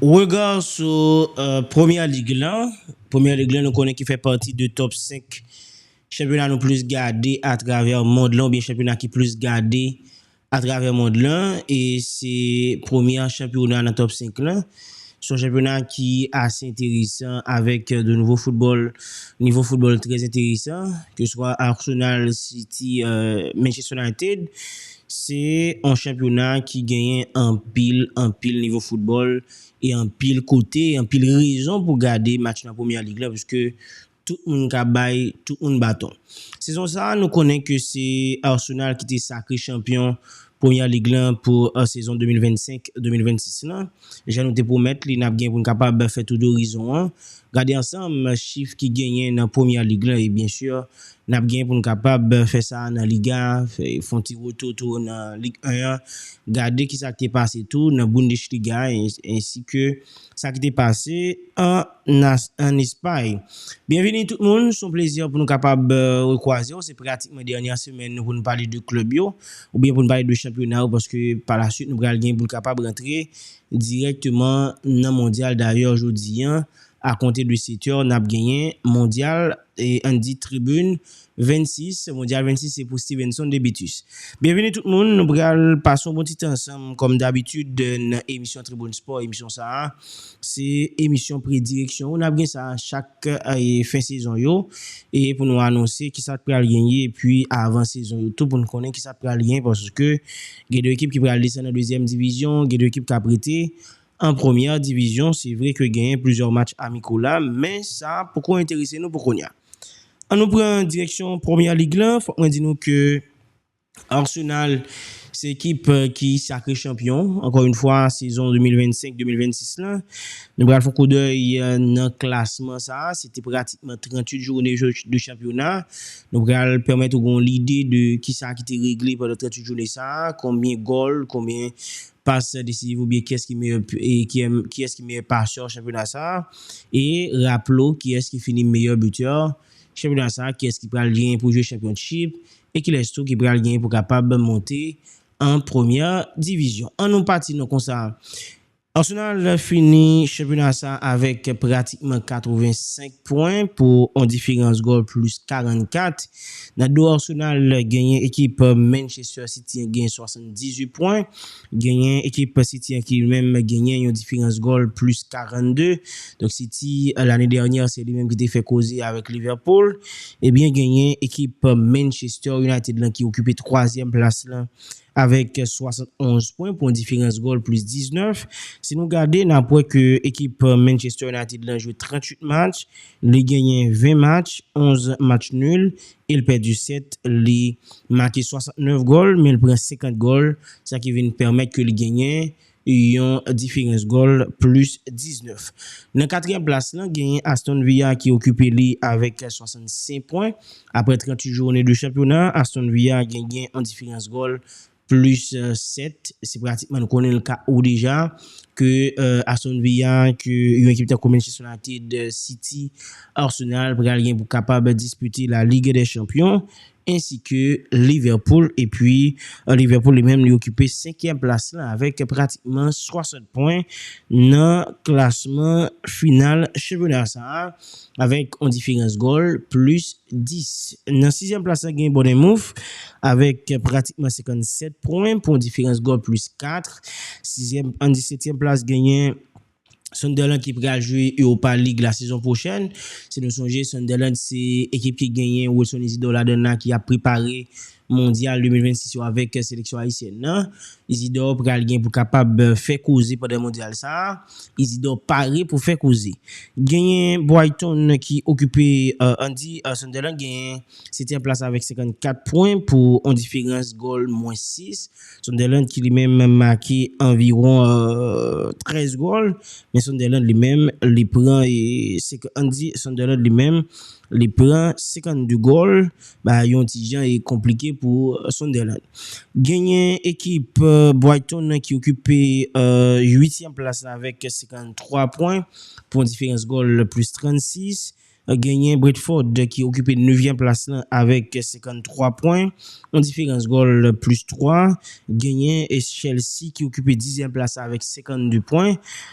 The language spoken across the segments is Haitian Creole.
Regard sou Première Ligue lan, Première Ligue lan nou konnen ki fè pati de top 5 chanpyona nou plis gade a travè mond lan oubyen chanpyona ki plis gade a travè mond lan e se premyè chanpyona nan top 5 lan. Se yon chanpyona ki ase enteresan avèk de nouvo foutbòl, nivo foutbòl trè enteresan, ke swa Arsenal, City, Manchester United Se yon chanpyona ki genyen anpil, anpil nivo foutbòl e anpil kote, anpil rezon pou gade match nan Premyè Lig la piske tout moun ka bay tout moun baton. Sezon sa nou konnen ke se Arsenal ki te sakre chanpyon Premyè Lig la pou sezon 2025, 2026 la. Jan nou te pwomèt li, n ap gen pou n kapab fè tour dorizon an, gade ansanm chif ki genyen nan Première Ligue lan e byen sur n ap gen pou n kapab fè sa nan Liga a, fè yon ti retou tou nan Ligue 1 an, gade kisa ki te pase tou nan Bundesliga a ensi ke sa ki te pase an. Nas an Espay. Byenvini tout moun, s on plezi pou nou kapab rekwaze w, se pratikman dènyè semèn nou pou nou pale de klèb yo, oubyen pou nou pale de chanpyona yo paske pa la swit nou pral gen pou nou kapab rantre dirèkteman nan mondyal dayè jodi an akonte de 7 è n ap genyen mondyal An di tribin 26, Mondyal 26 se pou Stevenson Debitus. Byenvini tout moun, nou pral pase yon bon ti tan ansanm kòm dabitid nan emisyon Tribune Sport, emisyon sa a se emisyon predireksyon ou n ap gen sa chak fen sezon yo e pou nou anonse ki sa k pral gen ye epi avan sezon yo tou pou nou konnen ki sa k pral gen paske gen 2 ekip ki pral desann nan dezyèm divizyon, gen 2 ekip k ap rete. An premyè divizyon, se vre ke genyen plizyè match amiko la, men sa poko enterese nou pou kounya. An nou pran direksyon Premier League la, fòk mwen di nou ke Arsenal se ekip ki sakre chanpyon, ankò yon fwa sezon 2025, 2026 la. Nou pral fon koudèy nan klasman sa, se te pratikman 38 joune de chanpyona, nou pral pèmèt ou gen yon lide de kisa ki te regle pandan 38 joune sa, konbyen gòl, konbyen Pas desizif oubyen kiyès ki meyè kiyès ki meyè pasè chanpyona sa e raple w kiyès ki fini meyè bitè chanpyona sa kiyès ki pral genyen pou jwe chanpyonchip e kilès tou ki pral genyen pou kapab monte an premyè divizyon an nou pati nan konsa Arsenal fini chanpyona sa avèk pratikman 85 pwen pou on diferans gòl plis 44 Nan do Arsenal genyen ekip Manchester City an genyen 78 pwen, genyen ekip City an ki li menm genyen yon diferans gòl plis 42, donk City lane dènyè se li menm ki te fè koze avèk Liverpool, ebyen genyen ekip Manchester United lan ki okipe twazyèm plas lan avèk 71 pwen pou yon diferans gòl plis 19, si nou gade nap wè ke ekip Manchester United lan jwe 38 match, Li genyen 20 match, 11 match nul e l pèdi 7. Li make 69 gòl men l pran 50 gòl, sa ki vin pèmèt ke li genyen yon diferans gòl plis 19. Nan katriyèm plas lan genyen Aston Villa ki okipe li avèk 65 pwen. Aprè 38 joune de chanpyona, Aston Villa genyen yon diferans gòl plus 7 se pratikman nou konnen l ka ou deja ke Aston Villa ke yon ekip tankou Manchester United, City, Arsenal pral gen pou kapab dispite la Ligue des Champions ensi ke Liverpool epi Liverpool li menm li okipe 5 èm plas la avèk pratikman 60 pwen nan klasman final chanpyona sa. avèk yon diferans gòl plis 10. Nan sizyèm plas la gen Bournemouth avèk pratikman 57 pwen pou yon diferans gòl plis 4. Sizyèm an disetyèm plas genyen Sunderland ki pral jwe Europa League la sezon pwochèn. Si nou sonje Sunderland se ekip ki genyen Wilson Isidor ladan l la ki ap prepare Mondyal 2026 yo avèk seleksyon ayisyèn nan. Izidor pral gen pou kapab fè koze pandan Mondyal sa. Izidor pare pou fè koze. Genyen Brighton ki okipe an di Sunderland genyen 7 èm plas avèk 54 pwen pou on diferans gòl mwen 6. Sunderland ki li menm make anviwon 13 gòl men Sunderland li menm li pran an di Sunderland li menm li pran 52 gòl. ba yon ti jan e konplike pou Sunderland. Genyen ekip Brighton nan ki okipe 8 tièm plas la avèk 53 pwen pou yon diferans gòl plis 36. Genyen Brentford ki okipe 9 vyèm plas la avèk 53 pwen, yon diferans gòl plis 3. Genyen Chelsea ki okipe 10 zyèm plas la avèk 52 pwen,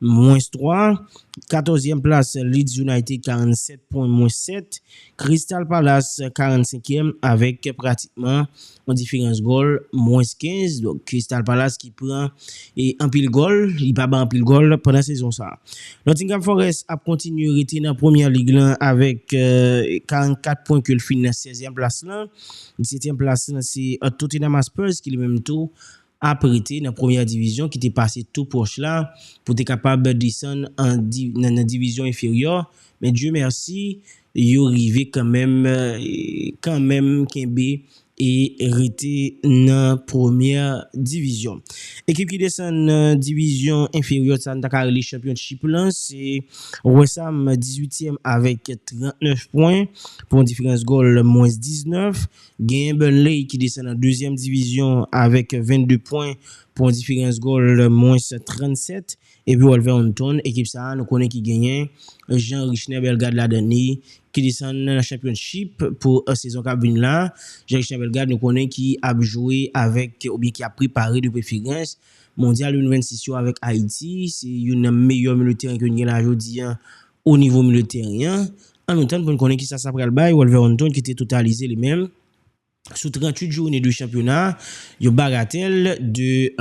mwens 3. Katòzyèm plas Leeds United 47 pwen mwens 7. Crystal Palace 45 èm avèk pratikman yon diferans gòl mwens 15. Donk Crystal Palace ki pran anpil gòl, li pa bay anpil gòl pandan sezon sa. Nottingham Forest ap kontinye rete nan Premier League lan avèk 44 pwen ke l fini nan sèzyèm plas lan. Disetyèm plas lan se Tottenham Hotspurs ki li menm tou ap rete nan premyè divizyon ki te pase tou pwòch la pou te kapab desann an nan divizyon enferyò men Dye mèsi yo rive kanmenm kanmenm kenbe e rete nan premyè divizyon. Ekip ki desann nan divizyon enferyò sa nou ta ka rele chanpyonchip lan se Wesam 18 tièm avèk 39 pwen pou yon diferans gòl mwens 19. Genyen Burnley ki desann an dezyèm divizyon avèk 22 pwen pou yon diferans gòl mwens 37 epi Wolverhampton ekip sa nou konnen ki genyen Jean Richner Bellegarde ladan li ki desann nan Championship pou sezon kap vin la Jean Richner Bellegarde nou konnen ki ap jwe avèk oubyen ki ap prepare de preferans Mondyal 2026 yo avèk Ayiti se youn nan meyè milyo teren ke nou gen la jodi an O nivo milye teren an, an nou tann pou n konnen kisa sa pral bay Wolverhampton ki te totalize li menm sou 38 joune de chanpyona yon bagatèl de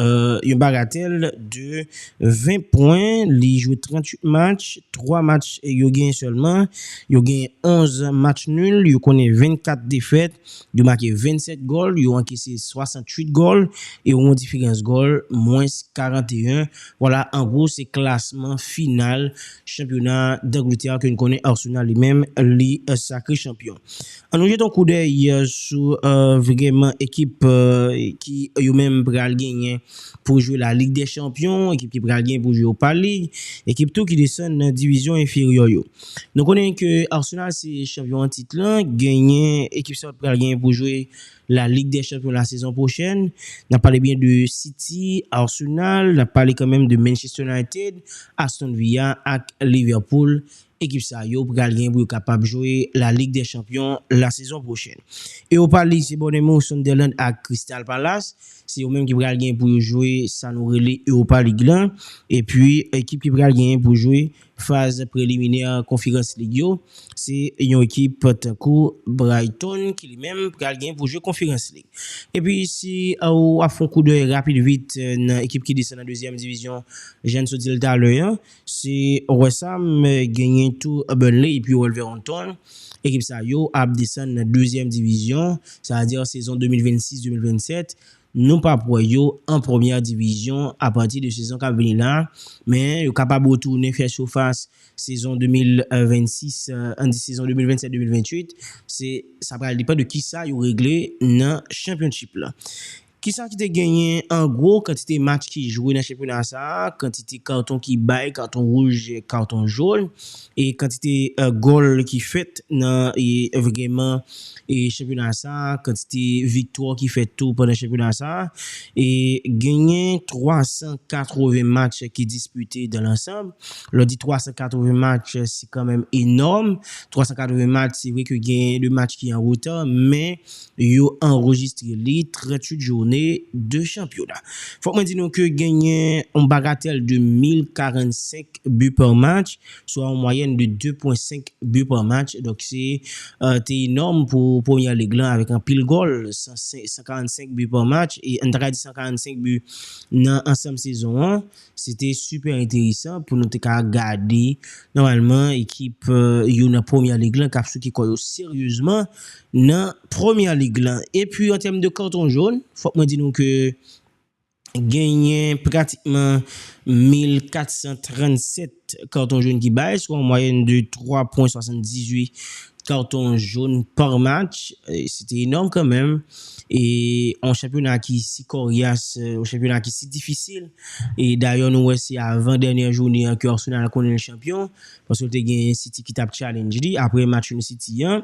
yon bagatèl de 20 pwen. Li jwe 38 match, 3 match yo genyen sèlman, yo genyen 11 match nul, yo konnen 24 defèt, yo make 27 gòl, yo ankese 68 gòl e yo gen yon diferans gòl mwens 41. Vwala an gwo se klasman final Chanpyona Dangletè ke n konnen Arsenal li menm li sakre chanpyon. An nou jete yon koudèy sou vreman ekip ki yo menm pral genyen pou jwe la Lig dè Chanpyon, ekip ki pral genyen pou jwe Opa Lig, ekip tou ki desann nan divizyon enferyò yo. Nou konnen ke Arsenal se chanpyon an tit lan, genyen ekip sa yo t pral genyen pou jwe. La Ligue des Champions la sezon pwochèn, n ap pale byen de City, Arsenal, n ap pale kanmenm de Manchester United, Aston Villa ak Liverpool, ekip sa yo pral gen pou yo kapab jwe La Ligue des Champions la sezon pwochèn. Europa League se Bournemouth, Sunderland ak Crystal Palace, se yo menm ki pral gen pou yo jwe sa nou rele Europa League lan, epi ekip ki pral gen pou jwe Faz preliminè Konferans Lig yo, se yon ekip tankou Brighton ki li menm pral gen pou jwe Konferans Lig. Epi si ou ap fon koudèy rapid vit nan ekip ki desann nan dezyèm divizyon, jan n sot di l talè an, se West Ham genyen tou Burnley epi Wolverhampton. Ekip sa yo ap desann nan dezyèm divizyon, sa vle di sezon 2026, 2027. Nou p ap wè yo an premyè divizyon apati de sezon k ap vini la, men yo kapab retounen fè sifas sezon 2026, an di sezon 2027, 2028, se sa pral depan de kisa yo regle nan Championship la. Kisa ki te genyen an gwo, kantite match ki jwe nan chanpyona sa, kantite karton ki bay, karton wouj, karton jón, e kantite gòl ki fèt nan vgeman chanpyona sa a, kantite viktwa ki fèt tou pandan chanpyona sa a, e genyen 380 match ki dispite dan lansanm. Lè w di 380 match, se kanmenm enòm. 380 match, se vre ke genyen de match ki an reta, men Yo anrejistre li 38 joune de chanpyona. Fòk mwen di nou ke genyen yon bagatèl de 1045 bi pa match, swa yon mwayèn de 2 pwen 5 bi pa match, donk se te enòm pou Premyè Lig lan avèk anpil gòl, 145 bi pa match, e nou ta ka di 145 bi nan ansanm sezon an. Se te super enteresan pou nou te ka gade nòmalman ekip yo nan Premier League lan kap souke kò yo seryezman nan Premier League lan. E pi an tèm de carton jaune, fòk mwen di nou ke genyen pratikman 1437. karton jòn ki bay, sou an mwayèn de 3 pwen 78 karton jòn par match, se te enòm kan menm, e an chanpyona ki si koryas, an chanpyona ki si difisil, e dayè nou wè se avan dènyè joune an ke Arsenal konnen l chanpyon, paske te gen City ki tap challenge li apre match nou City an.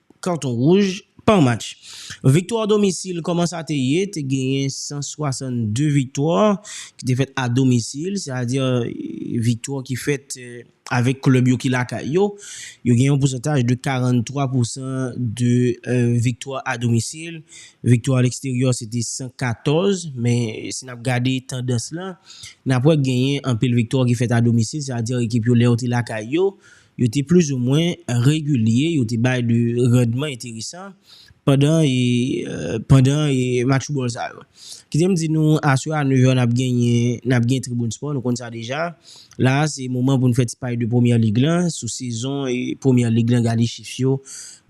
Kanton wouj, Pan match viktwa domisil kòman sa te ye, te genyen 162 viktwa ki te fèt a domisil, se a di viktwa ki fèt avèk klèb yo ki lakay yo, yo gen yon pousantaj de 43 pousan de viktwa a domisil, viktwa a leksteryò se te 114, men si n ap gade tandans lan, n ap wè genyen anpil viktwa ki fèt a domisil, se a di ekip yo lè yo te lakay yo, Yo te plizoumwen regilye, yo te bay de randman enteresan pandan pandan match foutbòl sa yo. Kite m di nou aswè a 9 è n ap genyen n ap gen Tribune Sport, nou konn sa deja. La a se moman pou n fè ti pale de Première Ligue lan, sou sezon Première Ligue lan gade chif yo,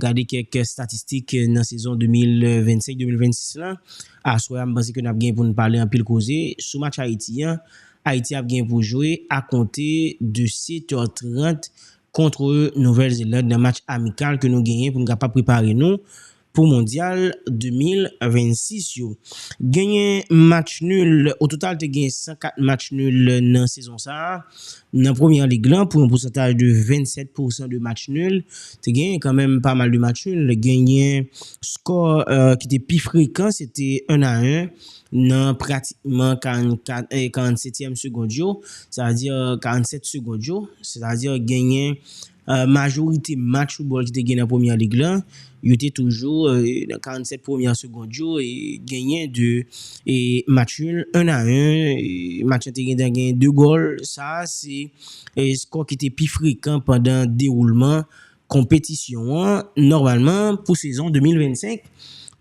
gade kèk statistik nan sezon 2025, 2026 lan. Aswè a m panse ke n ap gen pou n pale anpil koze sou match Ayiti an Ayiti ap gen pou jwe a konte de 7 è 30 kontre Nouvèl Zeland nan match amikal ke nou genyen pou nou kapab prepare nou pou mondyal 2026 yo. Genyen match nul, ototal te gen 104 match nul nan sezon sa a nan Premyè Lig lan pou yon pousantaj de 27 pousan de match nul. Te genyen kanmenm pa mal de match nul, genyen skò ki te pi frekan se te 1 a 1 Nan pratikman 44 e 47 tièm segond yo, sètadi 47 segond yo, sètadi genyen majorite match foutbòl ki te gen nan Premyè Lig la, yo te toujou nan 47 premyè segond yo genyen 2 match nul 1 a 1, match lan te gentan genyen 2 gòl, sa a se skò ki te pi frekan pandan dewoulman Konpetisyon an nòmalman pou sezon 2025,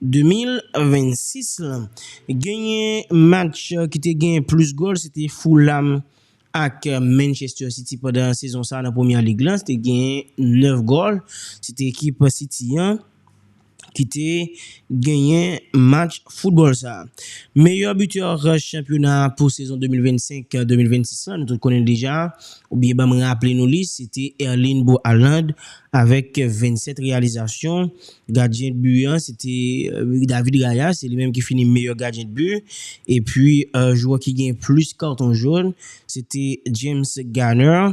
2026 lan. Genyen match ki te gen plis gòl se te Fulham ak Manchester City pandan sezon sa nan Premier League lan, se te gen 9 gòl, se te ekip City an. ki te genyen match foutbòl sa. Meyè bitè chanpyona a pou sezon 2025, 2026 la nou tout konnen l deja oubyen banm raple nou li se te Erling Bro Haaland avèk 27 reyalizasyon. Gadyen dbu an se te David Raya se li menm ki fini meyè gadyen dbu epi jwè ki gen plis katon jòn se te James Garner.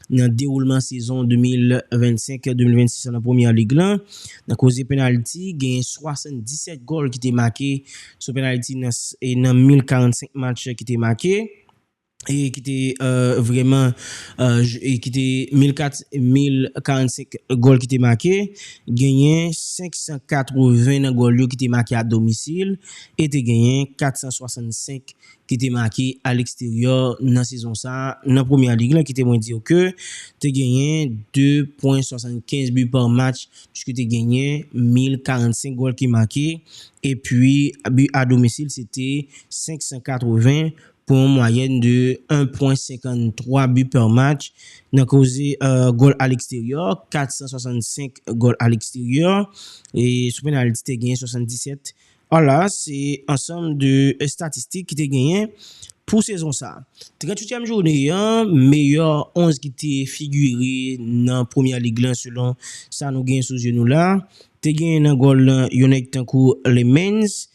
nan dewoulman sezon 2025-2026 la nan Premier League la. Nan koze penalti, genyen 77 gòl ki te make sou penalti nan 1045 match ki te make, e ki te vreman e ki te 1045 gòl ki te make, genyen 580 nan gòl yo ki te make a domisil e te genyen 465 ki te make aleksteryò nan sezon sa nan Première Ligue lan kite mwen diw ke te genyen 2 pwen 75 bi pa match pske te genyen 1045 gòl ki make epi bi a domisil se te 580 pou yon mwayèn de 1 pwen 53 bi pa match nan koze gòl aleksteryò 465 gòl aleksteryò e sou penalti te genyen 77 An la a se ansanm de estatistik ki te genyen pou sezon sa. Trentwityèm joune an, meyò 11 ki te figire nan Premier League lan selon sa nou genyen sou zye nou la, te genyen nan gòl lan yon nèg tankou Lemans,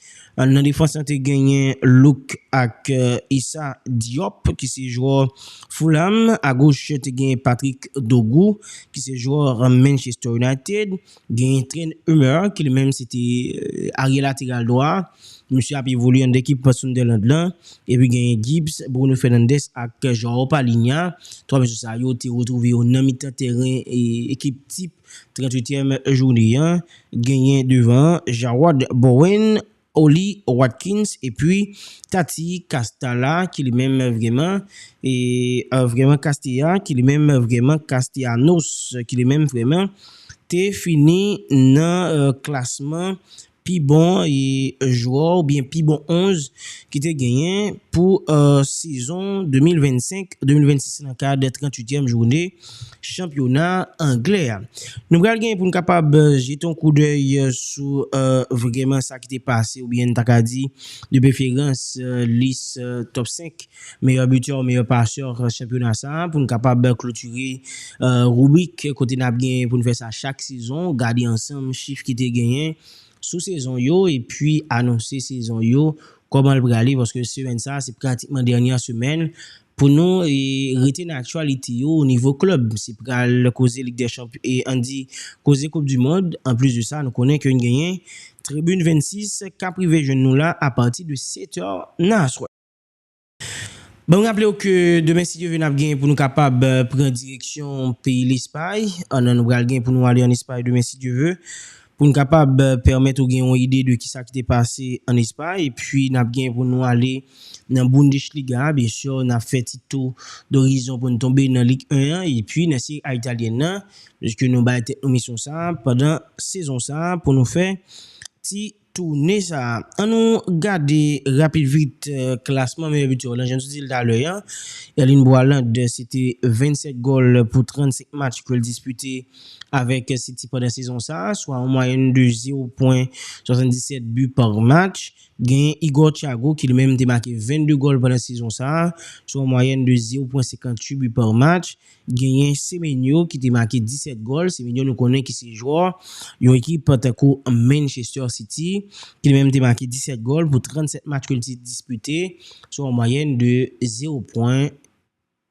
nan defans lan te genyen Luc ak Issa Diop ki se jwè Fulham, agoch te genyen Patrick Dorgu ki se jwè Manchester United, Genyen Trent Hummer ki li menm se te arye lateral dwa, misye ap evolye anndan ekip Sunderland lan, epi genyen Gibbs, Bruno Fernandes ak Joao Palhinha, 3 mesye sa yo te retwouve yo nan mitan tèren ekip tip 38 èm jounen an, genyen devan an Jarrod Bowen, Ollie Watkins epi Tati Castalla ki li menm vreman e vreman Castilla ki li menm vreman Castellanos ki li menm vreman te fini nan klasman pi bon jwè oubyen pi bon 11 ki te genyen pou sezon 2025, 2026 nan kad 38 èm joune. chanpyona anglè a. Nou pral gen pou n kapab jete yon koudèy sou vrèman sa ki te pase oubyen n ta ka di de preferans lis top 5 meyè bitè ou meyè pasè chanpyona sa a pou n kapab klotire ribrik kote n ap gen pou n fè sa chak sezon, gade ansanm chif ki te genyen sou sezon yo epi anonse sezon yo kòman l prale paske semèn sa a se pratikman dènyè semèn Pou nou rete nan aktyalite yo o nivo klèb, se pral koze lig dè chanp an di koze koup di mond, anplis de sa nou konnen ke n genyen tribin 26 k ap rive jwenn nou la a pati de 7 è nan aswè. Banm raple w ke demen si Dye ve n ap genyen pou nou kapab pran direksyon peyi Lespay, an nan nou pral genyen pou nou ale an Espay demen si Dye ve. Pou n kapab pèmèt ou gen yon ide de kisa ki te pase an Espay, epi nap gen pou nou ale nan Bundesliga a, byen sûr nap fè ti tou dorizon pou n tonbe nan Ligue 1 an, epi nan Serie A Italienne nan, pwiske nou bay tèt nou misyon sa a pandan sezon sa a pou nou fè ti toune sa a. An nou gade rapid vit klasman meyè bitè yo lan, jan nou te di l talè an, Erling Boiland se te 27 gòl pou 35 match ke l dispite avèk City pandan sezon sa, swa yon mwayèn de 0 pwen 77 bi pa match. Genyen Igor Thiago ki li menm te make 22 gòl pandan sezon sa, swa yon mwayèn de 0 pwen 58 bi pa match. Genyen Semenyo ki te make 17 gòl, Semenyo nou konnen ki se jwè yon ekip tankou Manchester City, ki li menm te make 17 gòl pou 37 match ke li te dispite, swa yon mwayèn de 0 pwen.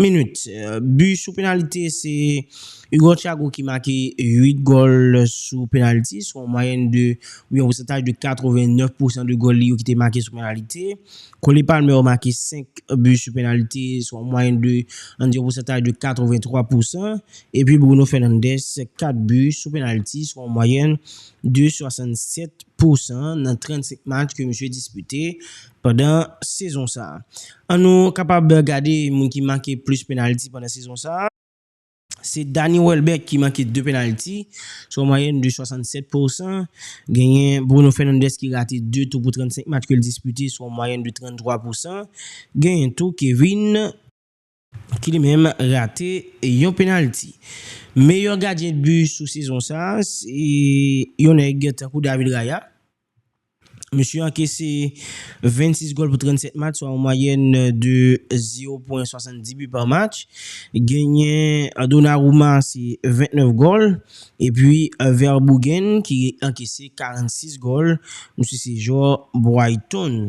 Minit. Bi sou penalite se Hugo Thiago ki make 8 gòl sou penaliti, sou yon mwayèn de ou byen yon pousantaj de 89 pousan de gòl li yo ki te make sou penalite. Cole Palmer make 5 bi sou penalite, sou yon mwayèn de ann di yon pousantaj de 83 pousan. Epi Bruno Fernandes 4 bi sou penaliti, sou yon mwayèn de 67 pousan nan 35 match ke misye dispite. pandan sezon sa. An nou kapab gade moun ki make plis penalti pandan sezon sa. Se Dani Welbeck ki make 2 penalti, sou yon mwayèn de 67 pousan. Genyen Bruno Fernandes ki rate 2 tou pou 35 match ke l dispite sou yon mwayèn de 33 pousan. Genyen tou Kevin. ki li menm rate yon penalti. Meyè gadyen de but sou sezon sa se yon nèg tankou David Raya. Mesye ankese 26 gòl pou 37 match swa yon mwayèn de 0 pwen 70 but par match. Genyen Donnarumma se 29 gòl epi Verbruggen ki ankese 46 gòl. Misye se jwè Brighton.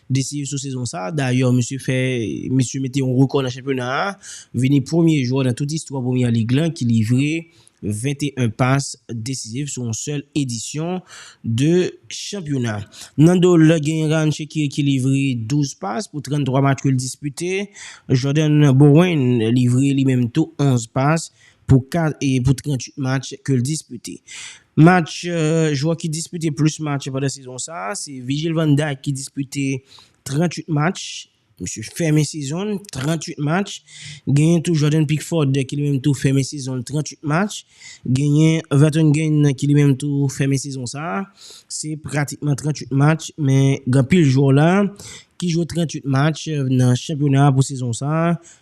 Desif sou sezon sa, dayè misye fè misye mete yon rekò nan chanpyona a, vini premye jwè nan tout istwa Premier League lan ki livre 21 pas desizif sou yon sèl edisyon de chanpyona. Nan do l, gen Ryan Shaqiri ki livre 12 pas pou 33 match ke l dispite, Jordan Bowen livre li menm tou 11 pas pou 38 match ke l dispite. Match jwè ki dispite plis match pandan sezon sa a se Virgil van Dijk ki dispite 38 match, misye fèmen sezon l 38 match, genyen tou Jordan Pickford ki li menm tou fèmen sezon l 38 match, genyen Vertonghen ki li menm tou fèmen sezon sa a, se pratikman 38 match men gen anpil jwè w la ki jwe 38 match nan chanpyona pou sezon sa a,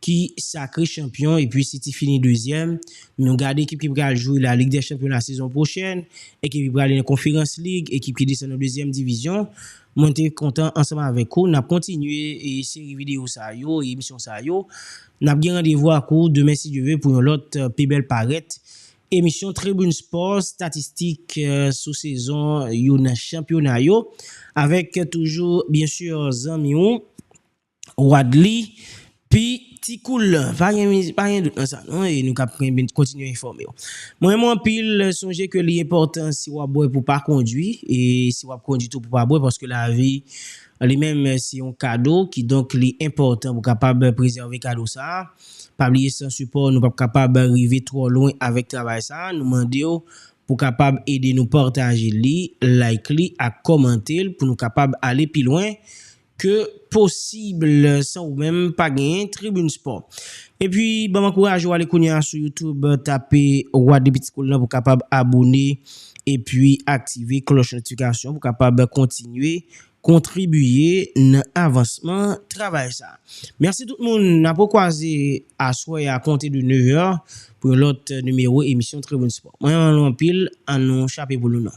ki sakre chanpyon epi City fini dezyèm, nou gad ekip ki pral jwe la Ligue des Champions la sezon pwochèn, ekip ki prale nan Conference League, ekip ki desann nan dezyèm divizyon, mwen te kontan ansanm avèk ou, nap kontinye seri videyo sa yo, emisyon sa yo, nap gen randevou ak ou demen si Dye ve pou yon lòt pi bèl parèt emisyon Tribune Sport, statistik sou sezon yo nan chanpyona yo avèk toujou byen sur zanmi ou. Wadly P ti koul pa gen pa gen dout nan sa non e nou kap renmen kontinye enfòme w mwen renmen w anpil sonje ke li enpòtan si wap bwè pou pa kondwi e si wap kondwi tou pou pa bwè paske lavi li menm se yon kado ki donk li enpòtan pou kapab prezève kado sa pa bliye san sipò w nou pap kapab rive twò lwen avèk travay sa nou mande w pou kapab ede nou pataje li like li ak kòmante l pou nou kapab ale pi lwen ke possible san ou menm pa genyen tribune sport epi banm ankouraje w ale kounya sou youtube tape roi de petit cool nan pou kapab abone epi aktive klòch notifikasyon pou kapab kontinye kontribiye nan avansman travay sa merci tout moun nap rekwaze aswè a konte de 9 è pou yon lòt nimewo emisyon tribune sport mwen renmen nou anpil an nou chape pou nou nan.